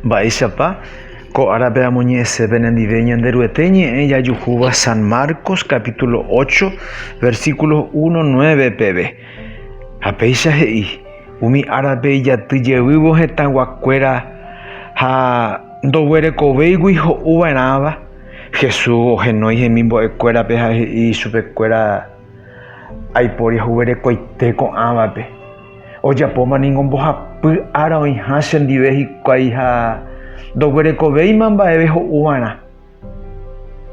Mba'éichapa ko árape amoñe'ẽsépe nendive Ñanderuete ñe'ẽ jajuhúva San Marcos capítulo 8, versículos 1, 9 peve. Ha péicha he'i, umi árape ijaty jeývo hetãguakuéra ha ndoguerekovéigui ho'u va'erãva, Jesús ohenói hemimbo'ekuérape ha he'i chupekuéra, Aiporiahuverekoite ko'ãvape. Ojapóma ningo mbohapy ára oĩha chendive hikuái ha ndoguerekovéima mba'eve ho'uva'erã.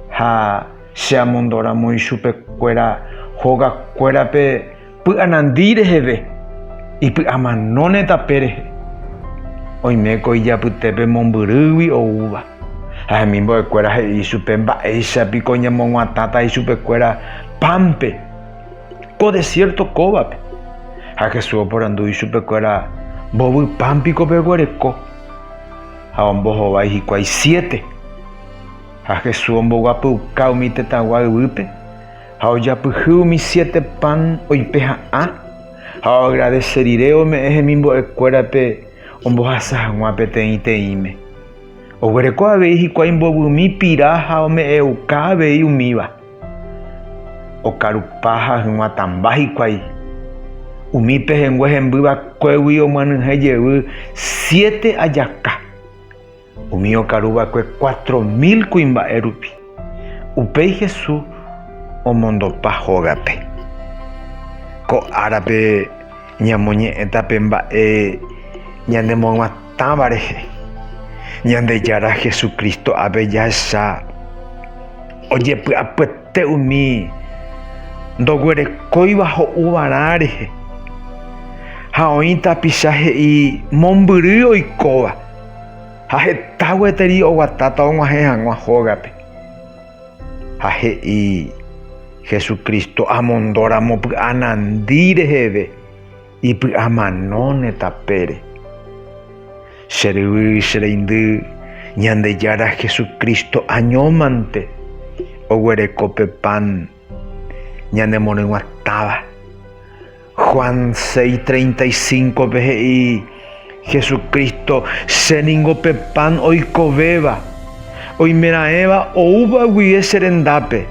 Ha che amondoramo ichupekuéra hogakuérape py'anandi reheve, ipy'amanóne tape rehe. Oiméko ijapytépe mombyrýgui oúva. Ha hemimbo'ekuéra he'i ichupe mba'éicha piko ñamoguatãta ichupekuéra pánpe. ko desiérto kóvape. Ha Jesús oporandu ichupekuéra, Mbovypám piko peguereko? Ha ombohovái hikuái siete. Ha Jesús omboguapyuka umi tetãgua yvýpe, ha ojapyhy umi siete pan oipe ha'ã, ha oagradese rire ome'ẽ hemimbo'ekuérape ombohasa hag̃ua peteĩteĩme. Oguereko avei hikuái mbovymi pira ha ome'ẽuka avei umíva. Okarupa ha hyguatãmba hikuái, umi pehẽngue hemby vakuégui omyenyhẽ jevy siete ajaka, umi okaru va'ekue cuatro mil kuimba'e rupi. Upéi Hesu omondopa hógape. Ko árape ñamoñe'ẽta pe mba'e ñanemoyguatã. Táva rehe, Ñandejára Jesucristo ave jahecha ojepy'apyete umi ndoguerekóiva ho'uvarã rehe, ha oĩ tapicha he'i mombyry oikóva, ha heta gueteri oguatáta og̃uahẽ hag̃ua hógape. Ha he'i, Jesucristo amondóramo py'anandi reheve. Ipy'amanóne tapére. Che ryvy, che reindy, Ñandejára Jesucristo añómante oguereko pe pan ñanemorỹguatáva. Juan 6:35-pe he'i. Jesucristo, che ningo pe pan oikovéva, oimeraẽva oúva guive che rendápe,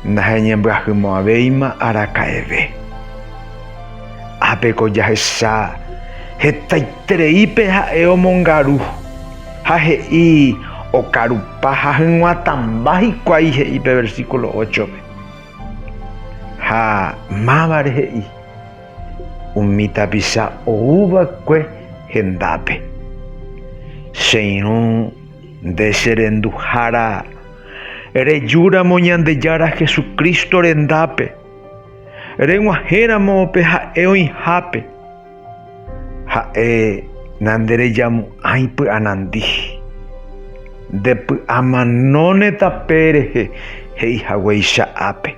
naheñembyahymavavéima araka'eve. Ápe ko jahecha hetaiterei pe ha'e omongaru, ha he'i okarupa ha hyg̃uatãmba hikuái he'i pe versículo óchope. Ha mávare he'i. umi tapicha ouva'ekue hendápe. Che irũ nde che renduhára, rejúramo Ñandejára Jesucristo rendápe, reg̃uahẽramo pe ha'e oĩhápe. Ha'e nanderejamo'ãi py'anandi, ndepy'amanóne tape rehe he'i haguéicha ápe.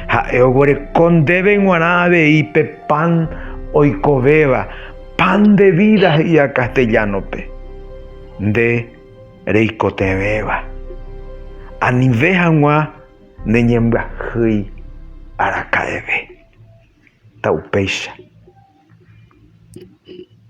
Ha'e oguereko ndéve g̃uarã avei pe pan oikovéva, pan de vida he'íva castellano-pe, nde reikotevẽva. Anive hag̃ua ne ñembyahýi araka'eve. Taupéicha.